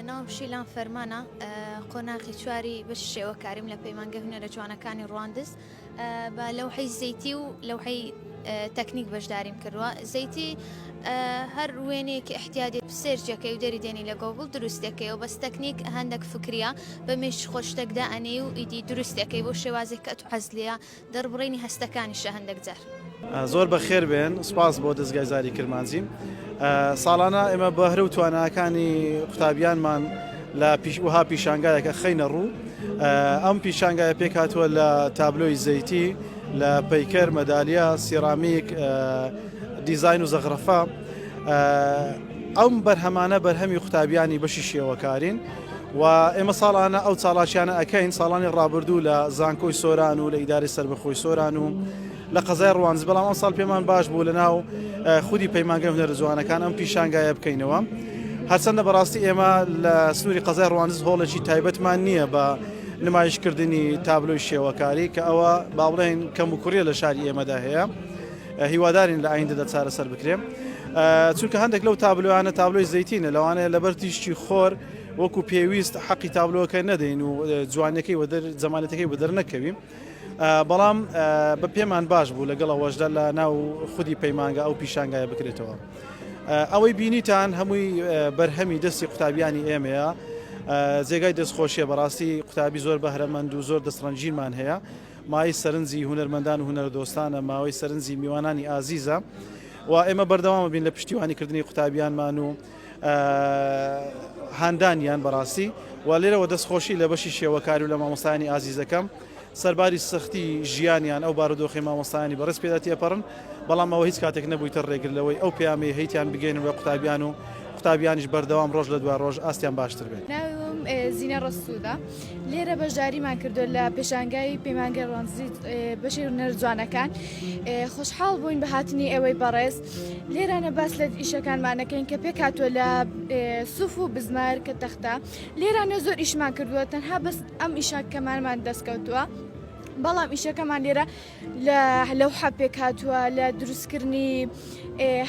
ناوم شیلان فەرمانە قۆناخی چواری بە شێوەکاریم لە پەیمانگە هونەرە جوانەکانی ڕواندز بە لەو حەی زەیتی و لەو حەی تەکنیک بەشداریم کردووە زەیتی هەر وێنێکی احتیادی سێرجەکەی و دەری دێنی لە گۆگل دروستەکەی و بەس تەکنیک هەندێک فکریە بە مێش خۆشتەکدا ئەنێ و ئیدی دروستەکەی بۆ شێوازێک کە تو حەزلیە دەربڕینی هەستەکانیشە هەندێک جار. زۆر بەخێر بێن سوپاس بۆ دەزگای زاری کرمانجیم ساڵانە ئێمە بەهرە و تواناکانی قوتابیانمان لە پیش وها پیشانگایەکە خەینە ڕوو ئەم پیشانگایە پێکاتوە لە تابلۆی زەیتی لە پەیکەر مەدالیا سیرامیک دیزین و زەغرەفە ئەم بەرهەمانە بەرهەمی قوتابیانی بەشی شێوەکارین و ئێمە ساڵانە ئەو چاڵاکیانە ئەکەین ساڵانی ڕابردوو لە زانکۆی سۆران و لە ئیداری سربەخۆی سۆران و لە قەزای ڕوانز بەڵام ئەم ساڵ پێمان باش بوو لە ناو خودی پەیمانگە هونەر جوانەکان ئەم پیشانگایە بکەینەوە هەرچەندە بەڕاستی ئێمە لە سنووری قەزای ڕوانز هۆڵێکی تایبەتمان نییە بە نمایشکردنی تابلۆی شێوەکاری کە ئەوە باڵێن کەم و کوڕیە لە شاری ئێمەدا هەیە هیوادارین لە ئایندەدا چارەسەر بکرێن چونکە هەندێک لەو تابلۆیانە تابلۆی زەیتینە لەوانەیە لەبەر تیشتی خۆر وەکو پێویست حەقی تابلۆەکە نەدەین و جوانەکەی وە جەمالەتەکەی بە دەرنەکەویم. بەڵام بە پێمان باش بوو لەگەڵ ئەوەشدا لە ناو خودی پەیمانگە ئەو پیشانگایە بکرێتەوە. ئەوەی بینیتان هەمووی بەرهەمی دەستی قوتابیانی ئێمەیە جێگای دەستخۆشیە بەڕاستی قوتابی زۆر بەهرەمەند و زۆر دەستڕەنجینمان هەیە مایەی سەرنجی هونەرمەندان و هونەرەدۆستانە، مایەی سەرنجی میوانانی ئازیزە و ئێمە بەردەوام ئەبین لە پشتیوانی کردنی قوتابیانمان و هاندانیان بەڕاستی و لێرەوە دەستخۆشی لە بەشی شێوەکاری و لە مامۆستایانی ئازیزەکەم سەرباری سەختی ژیانیان ئەو بارودۆخی مامۆستایانی بەڕست پێدا تێپەڕن بەڵام ئەوە هیچ کاتێک نەبوویتە ڕێگر لەوەی ئەو پەیامی هەیتیان بگەین بە قوتابیان و قوتابیانیش بەردەوام ڕۆژ لە دوا ڕۆژ ئاستیان باشتر بێت ناوم زینە ڕسوودە لێرە بەشداریمان کردو لە پێشانگای پەیمانگەی ڕۆنزیت بەشی هونەر جوانەکان خۆشحاڵ بووین بە هاتنی ئێوەی بەڕێز لێرانە باس لە ئیشەکانمانەکەین کە پێک هاتووە لە سوف و بزمار کە تەختە لێرانە زۆر ئیشمان کردووە تەنها بەس ئەم ئیشاکەمانمان دەستکەوتووە. بەڵام ئیشەکەمان لێرە لە لەوحە پێکهاتووە لە دروستکردنی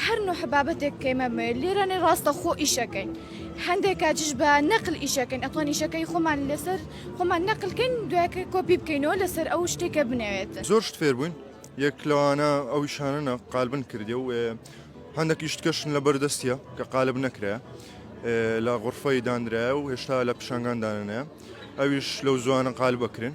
هەر نوح بابەتێک کەیمە لێرانێ ڕاستە خۆ ئیشەکەین هەندێک کاتیش بە نەقل ئیشەکەین ئەتوان ئیشەکەی خۆمان لەسەر خۆمان نەقلکەین دوایکە کۆپی بکەینەوە لەسەر ئەو شتێکە بنەوێت زۆر شت فێر بووین یەک لەوانە ئەو شانە قالبن کردی و هەندێکی شتکەشن لە بەردەستە کە قالب نەکرێ لە غرفەی دانرایە و هێشتا لە پیشنگان دانێ ئەویش لەو زوانە قال بکرێن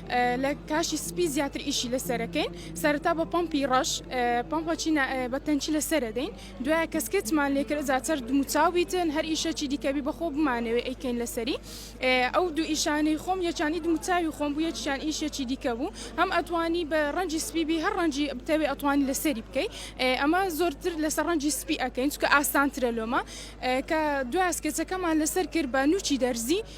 لە کاشی سپی زیاتر ئیشی لەسەرەکەین سەرتا بە پمپی ڕەش پمپەچی بە تەنچی لەسرە دەین دوای کەسکێتمان لێکرد زیاتر دموچاوبیتن هەر ئیشەکی دیکەبی بەخۆ بمانەوەی ئەیکەین لەسەری ئەو دوو ئیشانەی خۆم یەکانی دموچاوی خۆم بوو یەکیان ئیشەکی دیکە بوو هەم ئەتوانی بە ڕەنجی سپیبی هەر ڕەنجی بتەوێ ئەتوانی لەسەری بکەی ئەمە زۆرتر لەسەر ڕەنجی سپی ئەەکەین چکە ئاسانترە لۆمە کە دوای ئەسکێچەکەمان لەسەر کرد بە نوچی دەرزی